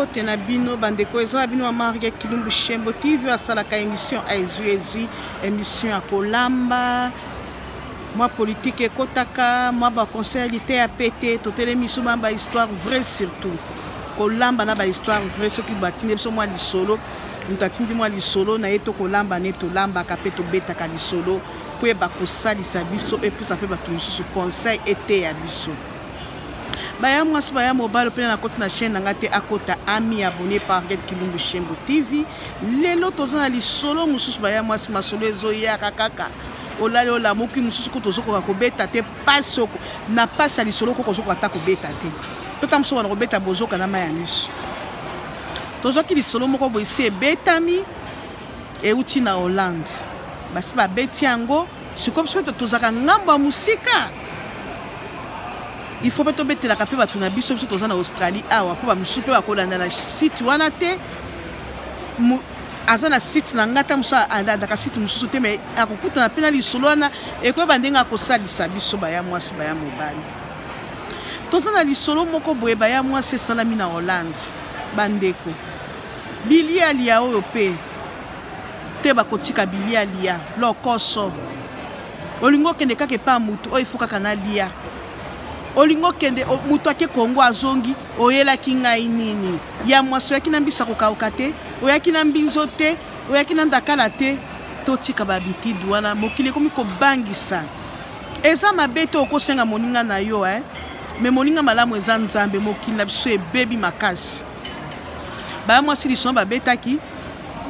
mbote na bino bandeko eza na bino ya marge kilumbu shembo tv oyo asalaka émission ezwi ezwi émission ya kolamba mwa politike ekotaka mwa baconseil ya liteya pete totelemi biso mwa bahistoire vrai surtout kolamba na bahistoire vrai soki batindi biso mwa lisolo moto atindi mwa lisolo na ye to kolamba ne tolambaka mpe tobetaka lisolo mpo eba kosalisa biso epesa mpe bato mosusu conseil eteya biso baya mwasi baya mobali mpena na koti na chaîne na ngai te akota ami abonné par get kilumbu shembo tv lelo toza na lisolo mosusu baya mwasi masolo ezoyaka kaka olali olamuki mosusu kutu ozokoka kobeta te mpasi oko na mpasi ya lisolo koko ozokoka ata kobeta te totanga mosusu wana kobeta bozoka na mai ya miso tozwaki lisolo moko boye si ebetami euti na hollande basi babeti yango sikoyo biso bato tozalaka ngambo ya mosika il faut mpe tobetelaka mpe bato na biso biso toza na australie awa mpo bamosusu mpe bakolanda na site wana te aza na site na ngai ata mosusu alandaka site mosusu te mai akokutana mpe na lisolo wana ekoyeba ndenge akosalisa biso baya mwasi baya mobali toza na lisolo moko boye baya mwasi esalami na hollande bandeko bilia lia oyo mpe te bakotika bilia lia lokoso olingi okende kaka epa motu oyo ifo kaka na lia olingi okende motu ake kongo azongi oyelaki ngai nini ya mwasi oyaki na mbisa kokauka te oyaki na mbinzo te oyaki na ndakala te totika babitide wana mokili ekomi kobangisa eza mabe te okosenga moninga na yo eh? me moninga malamu eza nzambe mokili na biso ebebi makasi baya mwasi lisoma babetaki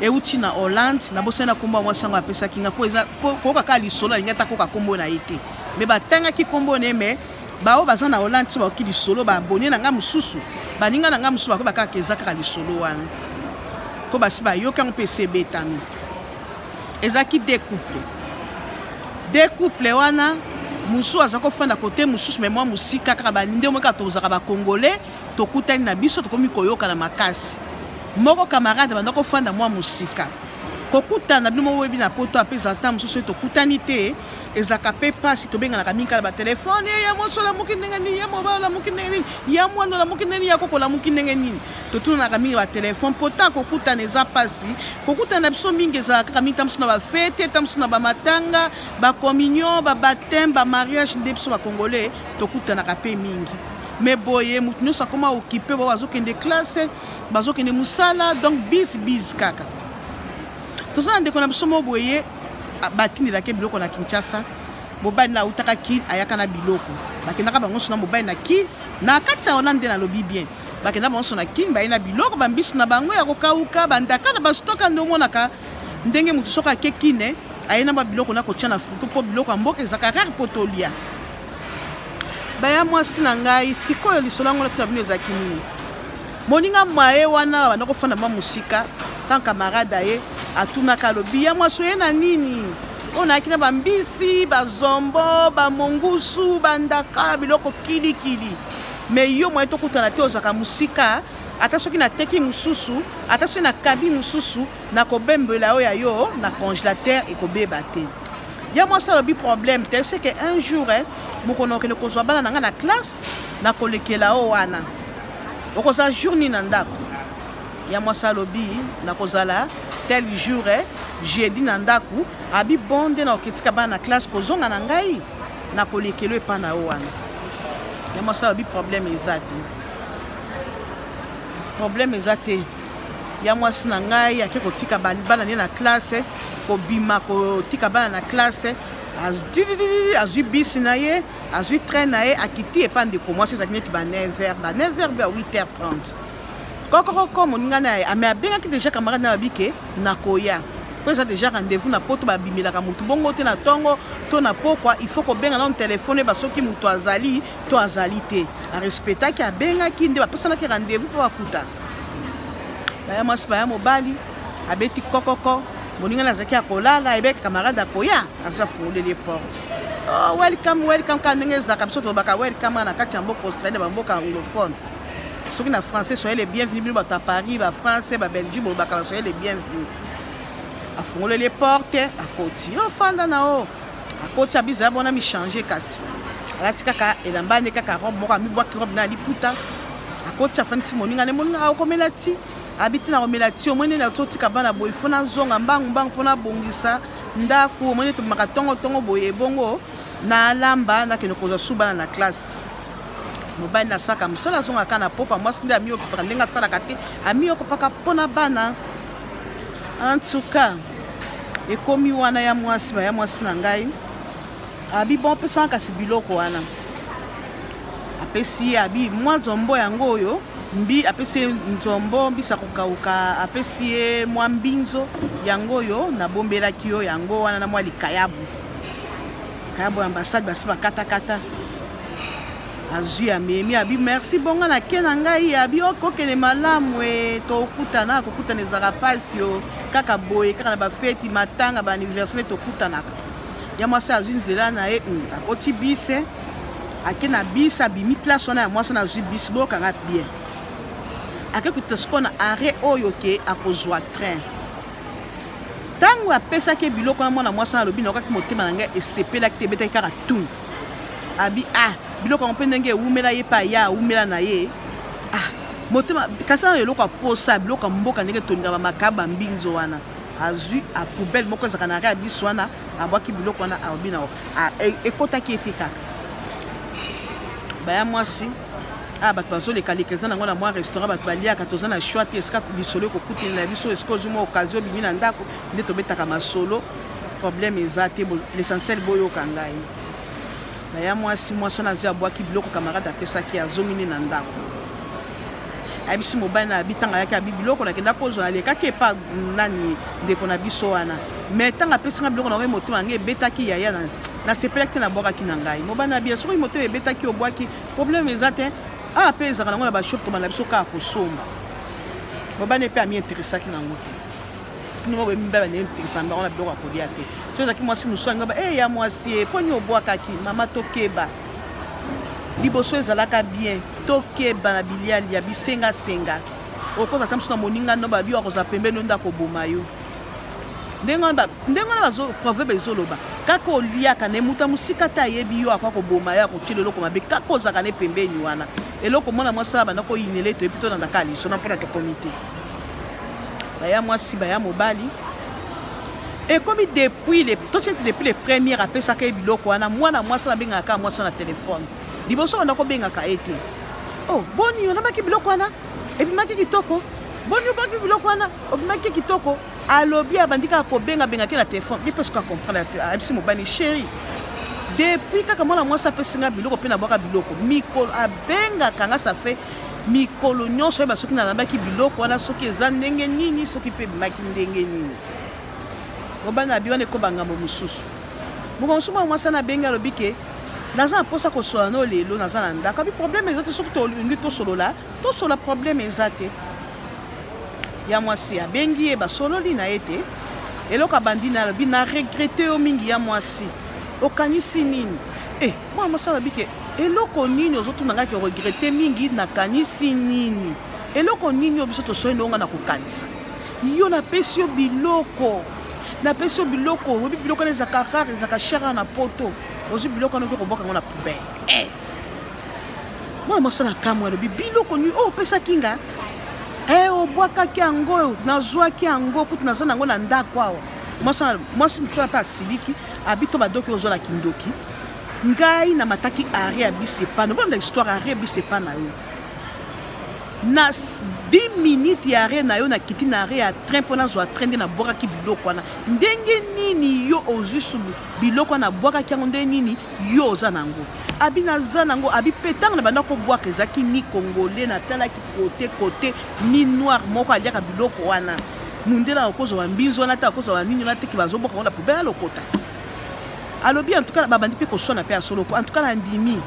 euti na hollande nabosani na nkombo ya mwasi yango apesaki nga mpo koyoka kaka lisolo alingi ata koyoka nkombo na ye te me batangaki nkombo na ye me baoyo baza na hollande so bakoki lisolo baabone na ngai mosusu baninga na ngai mosusu bakoyeba kaka eza kaka lisolo wana mpo basi bayoki yango mpe esi ebetami ezalaki de couple de couple wana mosusu aza kofanda kote mosusu me mwa mosika kaka baninde omoi kaka tozalaka bacongolais tokutani na biso tokomi koyokana makasi moko camarade banda kofanda mwa mosika kokutana bino moko boyebi na poto ape ezala ntango mosusu ete tokutani te ezalaka mpe mpasi tobenganaka mingi kala batelefone ya mwasi olamuki ndenge nini ya mobali olamuki ndenge nini ya mwana olamuki ndenge nini ya koko olamuki ndenge nini totunanaka mingi batelefone mpo ntango kokutana eza mpasi kokutana na biso mingi ezalaka kaka mingi ntango mosusu na bafete ntango mosusu na bamatanga bacommunion babateme bamariage nde biso bacongolais tokutanaka mpe mingi mais boye moto nyonso akoma okipe bao bazokende classe bazokende mosala donc bis bis kaka toza na ndeko na biso moko boye batindelaki biloko na kinshasa mobali na autaka kil ayaka na biloko bakendaka bango nyonso na mobali na kil na kati ya wana nde nalobi bien bakenda bango nyonso na kil baye na biloko bambisi na bango ya kokauka bandaka na bastoka nde omonaka ndenge moto soki ake kine aye na babiloko na kotya na frigo mpo biloko ya mboka ezalaka rare mpo tolia baya mwasi na ngai sikoyo lisolo yango natuna bino ezalaki nini moninga maye wana banda kofanda mwa mosika tan camarade aye atunaka alobi ya mwasi oye na nini oyo nayaki na bambisi bazombo bamongusu bandaka biloko kilikili me yo moye tokutana te ozalaka mosika ata soki nateki mosusu ata soki nakabi mosusu nakobembela oyo ya yo na congelateur ekobeba te ya mwasi alobi problème te ce que un jour eh, bokono okende kozwa bana na ngai na classe nakolekela o wana okozala jour nini na ndako ya mwasi alobi nakozala tel jour eh, jeudi na ndako abi bon nde nakoketika bana na classe kozonga na ngai nakolekela epa na yo wana ya mwasi alobi problème eza te problème eza te ya mwasi na ngai ake kotika bana ne na klase kobima kotika bana na klase azwi bisi na ye azwi train na ye akiti epa ndeko mwasi ezalaki neti ba 9 heure ba 9 heure bya 8 heure 30 kokokoko moninga na ye ame abengaki deja camarade na babi ke nakoya mpo eza deja rendez-vous na poto babimelaka motu bongo te na ntongo to na pokwa il faut kobenga nano telefone oyeba soki moto azali to azali te arespectaki abengaki nde bapesanaki rendez-vous mpo bakutana baya mwasi baya mobali abeti kokoko moningani azalaki ya kolala ayebaki camarade akoya abiso afungoleli ye porte oh, welcome welcome kaka ndenge ezalaka biso tolobaka welcome wana na kati ya mboka australie bamboka anglophone soki na français soyez le bienvenu bino bato ya paris bafrançais babelgie bolobaka basoyez le bienvenu afungoleli ye porte akoti ofanda na o akoti abiza ya bona michange kasi alati kaka elamba nde kaka robe moko amibwaki robe na liputa akoti afandisi moninga nde moninga aokomela ti abi te nakomela ti omoi nini azotika bana boye fo nazonga mbangu mbangu mpo nabongisa ndako omoi nini tobimaka ntongo ntongo boye ebongo nalamba nakende kozwa su bana na classe mobali nasalaka mosala azongaka na popa mwasi nde amiyokipaka ndenge asalaka te amiyokopaka mpo na bana En tout cas, ekomi wana ya mwasi ba ya mwasi na ngai abi bon pesanga kasi biloko wana apesi ye abi mwa nzombo yango oyo mbi apesi ye nzombo mbisa kokauka apesi ye mwa mbinzo yango oyo nabombelaki yo yango wana na mwa likayabu likayabu ya ambasade basi bakatakata azwi amemi abi merci bonga na ke na ngai abi okokende oh, malamu e tokutana kokutana ezalaka mpasi yo kaka boye kaka na bafeti matanga baaniversaire tokutanaka ya mwasi azwi nzela na ye hmm, akoti bise ake na bise abimi place wana ya mwasi wana azwi bise bokanga bien ake kuta sikoyo na arret oyo ke akozwa train ntango apesaki biloko wana mwana mwasi wana alobi nakokaki motema na ngai esepelaki te ebetaki kaka tun abi ah biloko yango mpe ndenge ewumela ye mpe aya awumela na ye ah motema kasi na eloko aposa biloko ya mboka ndenge tolingaka makaba mbinzo wana azwi apoubele moko ezalaka na rea biso wana abwaki biloko wana alobi na e, ekotaki ete kaka baya mwasi ah bato bazolekaleka eza nango na mwa restaurant bato baliaka toza na choix te esika lisolo ekokutelela biso esika ozwi mwa okazio obimi na ndako nde tobetaka masolo problème eza te l'essentiel boyoka ngai naya mwasi mwasi wana azi abwaki biloko camarade apesaki azongi nde na ndako ayebisi mobali na abi ntango ayaki abi biloko nakenda kozwa nalekaki epa nani ndeko na biso wana mai ntango apesi ngai biloko na ngai motema yango ebetaki yaya na nasepelaki te nabwakaki na ngai mobali na biya soki motema ebetaki obwaki problème eza te awa ah, mpe ezalaka nango na bashop tobanda biso kaka kosomba mobali mpe amiinteresaki nango te bino moko boyebi mibali bandenge mitekisana bango na biloko ya kolia te so ezalaki mwasi mosusu angaba e ya mwasi ye mpo nini obwakaki mama tokeba liboso ezalaka bien tokeba na bilialia bisengasenga okoza ata mosusu na moninga no babi akozala pembeni yo nde akoboma yo ndenge wana proverbe ezoloba kaka oliaka na emuta mosika te ayebi yo akoya koboma yo akotyela eloko mabe kaka ozalaka ne pembeni wana eloko mwana mwasi abanda koyinela etoyebi tolandaka liso na mpona tokomi te baya mwasi baya mobali ekomi depuis le totieti depuis le première apesaka ye biloko wana mwana mwasi nabengaka kaka mwasi na telefone liboso banda kobengaka ye te o oh, boni olamaki biloko wana ebimaki kitoko boni obaki biloko wana obimaki kitoko alobi abandi kaka kobengabengaki na telefone ye mpe soki acomprendre te ayebisi mobali sheri depuis kaka mwana mwasi apesi nga biloko mpe nabwaka biloko mikolo abengaka nga safe mikolo nyonso oyeba soki nalambaki biloko wana soki eza ndenge nini soki mpe ebimaki ndenge nini obana bi wana ekoba ngambo mosusu mokolo mosusu mwana mwasi wana abengi alobi ke naza na mposa kosolola no lelo naza na ndako abi problème eza te soki tolingi tosolola tosolola problème eza te ya mwasi abengi ye basololi na ye te eloko abandi na alobi na regrete yo mingi ya mwasi okanisi nini e eh, mwana mwasi alobi ke eloko nini ozotuna ngai ke regrete mingi nakanisi nini eloko nini oyo biso tosoi ndongo ngai na kokanisa yo napesi yo biloko napesi yo biloko oyebi biloko wana ezaka rare ezaka shara na poto ozwi biloko wana oki kobwaka yango na poubele e eh! mwana mwasi na kamwe alobi biloko nini oyo opesaki nga e obwakaki yango nazwaki yango kutu naza na yango na ndako awa mwasi mosusu ape asiliki abi to badoki ozo la kindoki ngai na mataki ari ya bisepa nobona na histoire ari ya bisepa na yo na 10 minutes ya re na yo nakiti na re ya train mpo nazwa train nde nabwakaki biloko wana ndenge nini yo ozwi subu biloko wana nabwakaki yango ndenge nini yo oza na yango abi naza na yango abi mpe ntango na banda kobwaka ezalaki ni congolais natalaki kote kote ni noir moko aliaka biloko wana mundele akozwa bambinzo wana te akozwa banini wana te ke bazoboka ngo na poubele alokota alobi en tout cas babandi mpe koswana mpe ya solo en tout cas nandimi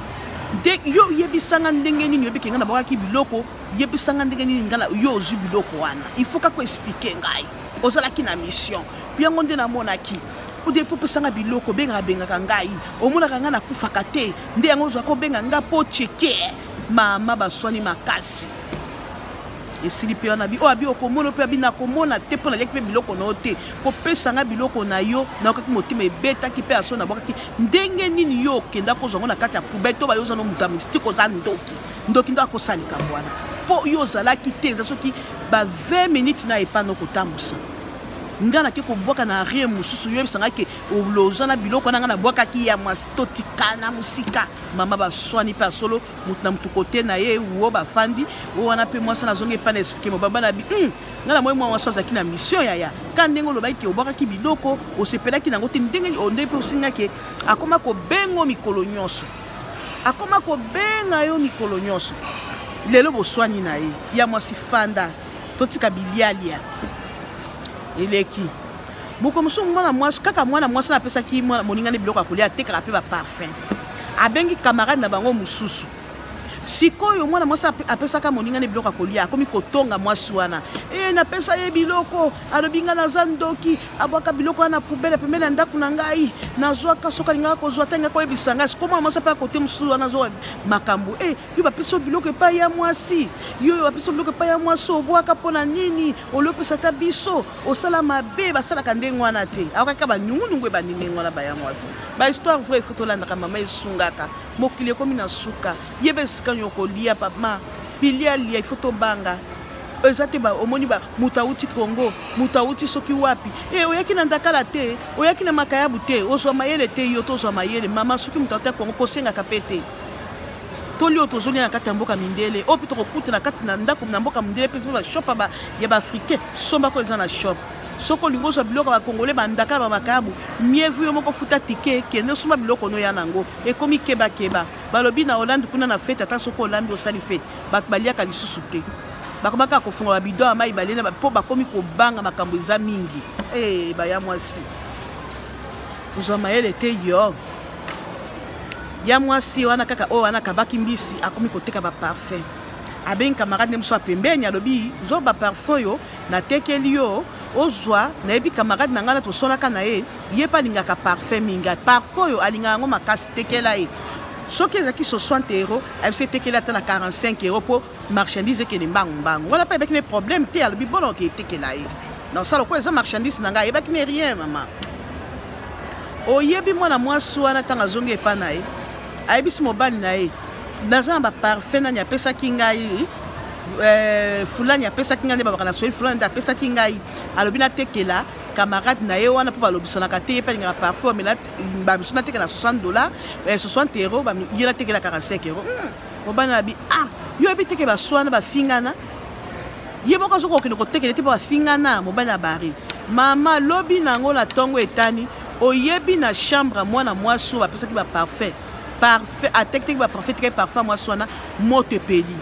nde yo yebisanga ndenge nini oyebike ngai nabwakaki biloko yebisanga ndenge nini ngala yo ozwi biloko wana il faut kaka explike ngai ozalaki na mission mpe yango nde namonaki ode mpo opesanga biloko obengaka bengaka ngai omonaka ngai nakufaka te nde yango ozwaka obenga ngai mpo cheke mama baswani makasi esili mpe wana oyo abi okomona mpe abi nakomona te mpo naliaki mpe biloko na yo te kopesa ngai biloko na yo nayokaki motema ebetaki mpe aso nabwakaki ndenge nini yo okenda kozwa ngo na kati ya poubele to bayo oza no moto ya mistike oza ndoki ndoki ndo akosala likambo wana mpo yo ozalaki te eza soki ba 20 minutes na epa nokotambwisa ngai nake kobwaka na rien mosusu yoyebisa ngai ke oloza na biloko wana ngai nabwakaki ya mwasi totikana mosika mama baswani mpe ya solo moto na moto kote na ye wo bafandi o wana mpe mwasi wana azongi epai na esplike mobaba na bi hmm, ngai namoni mwa mwasi azalaki na mission yaya ka ndenge olobaki ke obwakaki biloko osepelaki na yango te ndenge nde mpe osingaki akoma kobengo mikolo nyonso akoma kobenga yo mikolo nyonso lelo boswani na ye ya mwasi fanda totika bilialia eleki mokolo mosusu mwana mwasi kaka mwana mwasi napesaki moninga nde biloko ya kolia atekaka mpe baparfum abengi camarade na bango mosusu sikoyo mwana mwasi apesaka moninga nde biloko ya kolia akomi kotonga mwasi wana e napesa ye biloko alobi ngai naza ndoki abwaka biloko wana na pubele pembeni ya ndako na ngai nazwaka soki alingaka kozwa te ngai koyebisa ngai sikoyo mwana mwasi ape akote mosusu wana azwa makambo e yo bapesi yo biloko epai ya mwasi yo oyo bapesi yo biloko epai ya mwasi obwaka mpo na nini olopesa ata biso osala mabe basalaka ndenge wana te aokaka banyungunungu ebandi ndenge wana baya mwasi bahistoire vrai efo tolandaka mama esungaka mokili ekomi na suka ye mpe esika nyo kolia pama pili alia ifo tobanga eza te omoni moto awuti congo moto awuti soki wapi e oyaki na ndakala te oyaki na makayabu te ozwa mayele te yo tozwa mayele mama soki moto awuti ya congo kosengaka mpe te toli oyo tozolia na kati ya mboka mindele oyo mpe tokokuta na kati na ndako na mboka mindele mpe soki bashop ya baafricain sombako eza na shop soki olingi ozwa biloko ya bakongole bandaka na bamakayabu mievu yo moko futa tike kende osomba biloko ono ya na yango ekomi kebakeba balobi na hollande kuna na fete ata soki olambi osali fete bato baliaka lisusu te bakobaka kofunga babido ya mai balena mpo bakomi kobanga makambo eza mingi ee eh, baya mwasi ozwa mayele te yo ya mwasi wana kaka oyo wana akabaki mbisi akomi koteka baparfum abengi camarade nde mosusu ya pembeni alobi zwa baparfum oyo natekeli yo ozwa nayebi camarade na ngai na tosolaka na ye ye mpe alingaka parfum mingi parfum oyo alingaka yango makasi tekela ye soki ezalaki 60 euro abisi etekeli ata na 45 euro mpo marchandise ekende mbangu mbangu wana mpe ayebaki ne problème te alobi bono oke etekela ye donc sala okola eza marchandise na ngai ayebaki ne rien mama oyebi mwana mwasi wana ntango azongi epai na ye ayebisi mobali na ye naza na baparfum nani apesaki ngai eh, fulani apesaki ngai nde babaka na soyi fulani nde apesaki ngai alobi natekela camarade na ye wana mpo balobisanaka te ye mpe alingaka parfum amela bamisu natekela 60 dollar 60 euro ye natekela 45 euro obana bi ah yo oyebi teke baswana bafingana ye moko azokoka okende kotekele te mpo bafingana mobali ya bari mama lobi na yango na ntongo etani oyebi na chambre ya mwana mwasi oyo bapesaki baparfum parfum atekiteki baparfum etikaki parfum ya mwasi wana moto epeli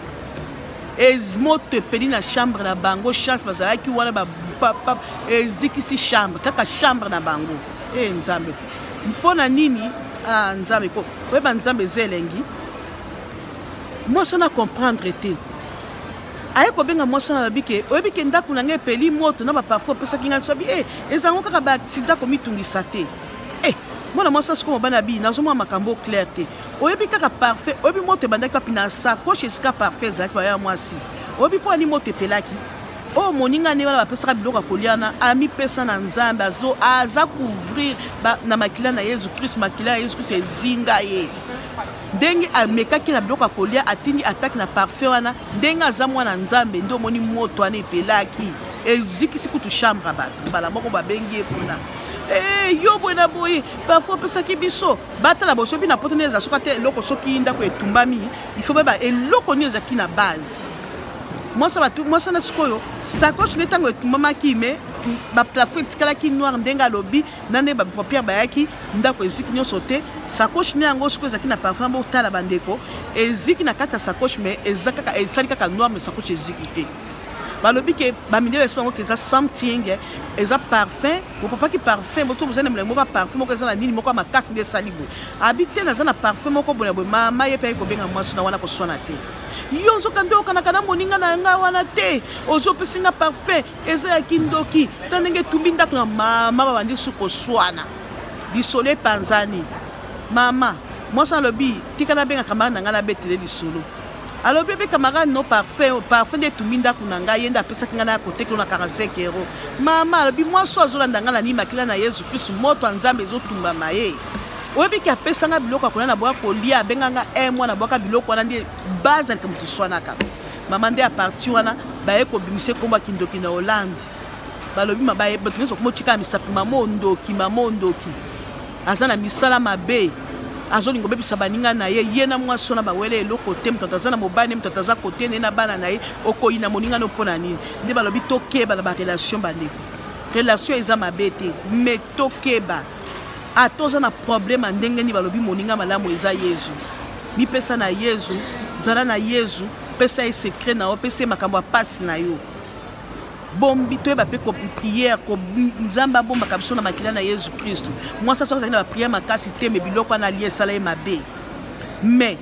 moto epeli na chambre na bango chance bazalaki wana bapapa ezikisi chambre kaka chambre na bango e nzambe mpo na nini ah, nzambe oyeba nzambe eza elengi mwasi wana comprendre te aye kobenga mwasi wana alobi ke oyebi ke ndako na ngai epeli moto na baparfum opesaki ngai sobi e eh, ezango kaka baaksida komitungisa te e eh, mwana mwasi asiko mobana bi nazomona makambo clair te oyebi kaka parfum oyebi moto ebandaki wapi na sacoche esika parfum ezalaki baya mwasi oyebi mpo ani moto epelaki oyo moninga nde wana bapesaka biloko ya kolia na amipesa na nzambe aza couvrir na makila na yesu kristu makila ya yesu kristu ezinga ye ndenge amekaki na biloko ya kolia atindi ataki na parfum wana ndenge aza mwana nzambe nde omoni moto wana epelaki ezikisi kutu chambre ya bato mbala moko babengi ye kuna Hey, eh, yo boye na boye parfois opesaki biso batala boso mpe na poto nde eza soka te eloko soki ndako etumbami ifo bayeba eloko nini ezalaki na base mwasi batu mwasi wana sikoyo sakoche nde ntango etumbamaki me baplafo etikalaki noir ndenge alobi na nde bapapiere bayaki ndako eziki nyonso te sakoche ne yango sikoyo ezalaki na parfum botala bandeko eziki na kati ya sakoche me eza kaka esali kaka noir me sakoche eziki te balobi ke bamidele basi bango ke eza something eh, eza parfum bopapaki parfum boto boza na milangi moko ya parfum moko eza na nini moko ya makasi nde esali boye abi te naza na parfum moko boye na boye mama ye mpe ayi kobenga mwasi na wana koswana te yo nzoka nde okanaka na moninga na ngai wana te ozopesi nga parfum eza ya kindoki ta ndenge etumbi ndako na mama babandi su koswana lisolo epanzani mama mwasi alobi tika nabenga kamarade na ngai nabetele lisolo alobi ebe kamarade no parfum parfum nde etumbi ndako na ngai ye nde apesaki ngai na kotekelo na 45 euro mama alobi mwasi oyo azolanda ngai na nimakila na yesu kristu moto ya nzambe ezotumbama ye oyebi ke apesa nga biloko ya kolia na boya kolia abenga nga e eh, mwana bwaka biloko wana nde bazalika moto swanaka mama nde aparti wana baye kobimisa ekombo ya kindoki na hollande balobi mabaye bato nyonso komotikala misapi mama ondoki mama ondoki aza na misala mabe azolinga obebisa baninga na ye ye na mwasi wana bawele eloko te moto aza na mobali ne moto aza kote ne na bana na ye okoyi na moninga no mpo na nini nde balobi tokeba na barelation bandeko relation eza mabe te me tokeba ata ah, oza na problème ya ndenge nini balobi moninga malamu eza yezu mipesa na yezu zala na yezu pesa ye secret na yo pesa ye makambo ya mpasi na yo bombi toyeba mpe priere nzambe abombaka biso na makila na yezu kristu mwasi aso azali na bapriere makasi te me biloko wana alie esala ye mabe mais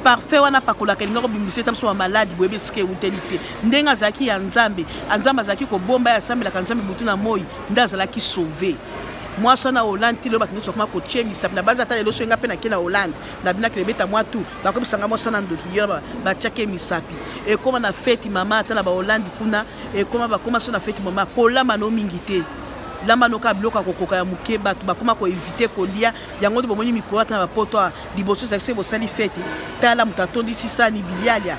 parfait wana apakolaka elinga kobimisa eta biso bamaladi boyebi esika ewuteli te ndenge azalaki ya nzambe nzambe azalaki kobomba ye asambelaka nzambe butu na moi nde azalaki sauve mwasi wana hollande ti lelo bato nyonso bakoma kotie misapi na banza ata lelo soki nga mpe nake na hollande na binaki lebeta mwa tu bakobisanga mwasi wana ndoki yo batiaki misapi ekoma na feti mama ata na bahollande kuna ekoma bakoma so na feti mama kolamba no mingi te lamba noka biloko ya kokoka ya moke bato bakoma koevite kolia yango nde bomoni mikolo ata na bapoto awa liboso ezali soki bosali feti tala moto atondisi sani bilialia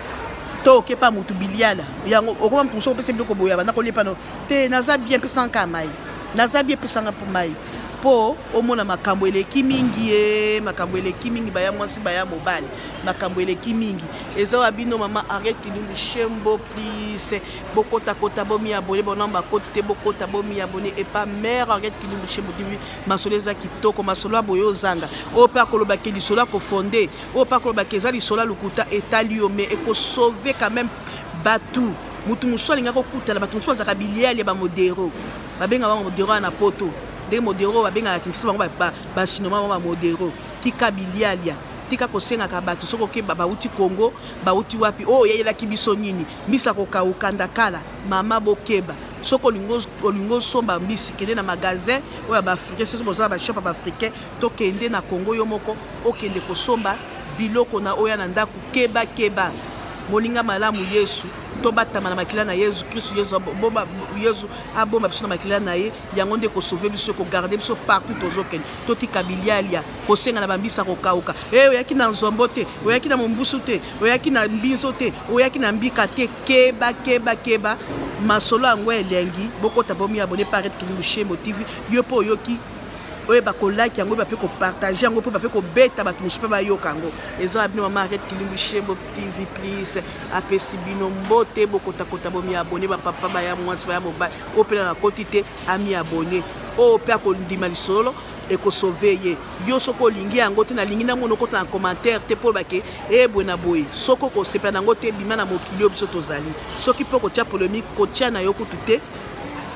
to okepa motu biliala yango okoma moto mosusu opesa biloko boye abanda kolia pano te naza bien pesanga kaka mai naza bien pesanga mpo mai mpo omona makambo eleki mingi ye makambo eleki mingi baya mwasi baya mobali makambo eleki mingi eza wa bino mama ariel kilumbi shembo plise bokotakota bomiabone bona bakoti te bokota bomiabone epa mare ariel kilumbi shembo tv masolo eza kitoko masolo ya boye ozanga oyo mpe akolobake lisolo ya kofonde oyo mpe akolobake eza lisolo ya lokuta etali yo me ekosauve quand même bato moto mosusu alingi akokutana bato mosusu bazalaka biliali ya bamodero babenga bango modero wana na poto ndenge modero babengaka kinshasa bango basinoma bango bamodero tika bilialia tika kosengaka bato soki okeba bauti kongo bauti wapi oyo oh, oyeyelaki biso nini mbisa kokauka ndakala mama bokeba soki olingi osomba mbisi kende na magasin oyo ya baafricain soki bozala bashop ya baafricain to kende na kongo yo moko okende kosomba biloko na oya na ndako keba keba moninga malamu yesu tobatama na makila na yesu kristu yesu abomba biso na makila na ye yango nde kosove biso kogarde biso partout tozokende totika bilialia kosenga na bambisa kokauka e eh, oyaki na nzombo te oyaki na mombusu te oyaki na mbinzo te oyaki na mbika te keba keba keba masolo yango elengi bokota bomi abone parete kilimushembo tv yo mpo oyoki oyeba kolaki yango oyeba mpe kopartage yango mpo bape kobeta bato mosusu mpe bayoka yango ezo ya bino mama aret kilimbi shembo tizi plis apesi bino mbote bokotakota bomiabone bapapa baya mwasi baya mobali oyo mpe na nakoti te amiabone oyo mpe akondima lisolo ekosove ye yo soki olingi yango te nalingi nango nokota na commentaire te mpo bake ebwe eh, na boye soki okosepela na yango te bima na mokili oyo biso tozali soki mpe okotya polemique kotya na yo kutu te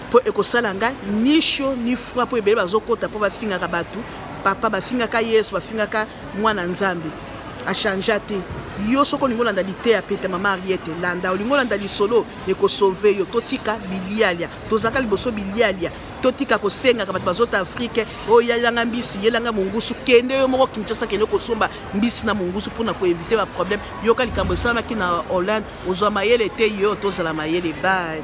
mpo ekosala nga ni chaud ni froid mpo ebele bazokota mpo bafingaka bato papa bafingaka yesu bafingaka mwana nzambe achangea te yo soki olingi olanda liteya pete mama ariete landa olingi olanda lisolo ekosove yo totika bilialia tozalaka liboso bilialia totika kosengaka bato bazota afrike oyo oh, yelanga mbisi yelanga mongusu kende yo moko kinshasa kende kosomba mbisi na mongusu mpona koevite baproblème yoka likambo esalamaki na hollande Ozwa mayele te yo tozala mayele bye.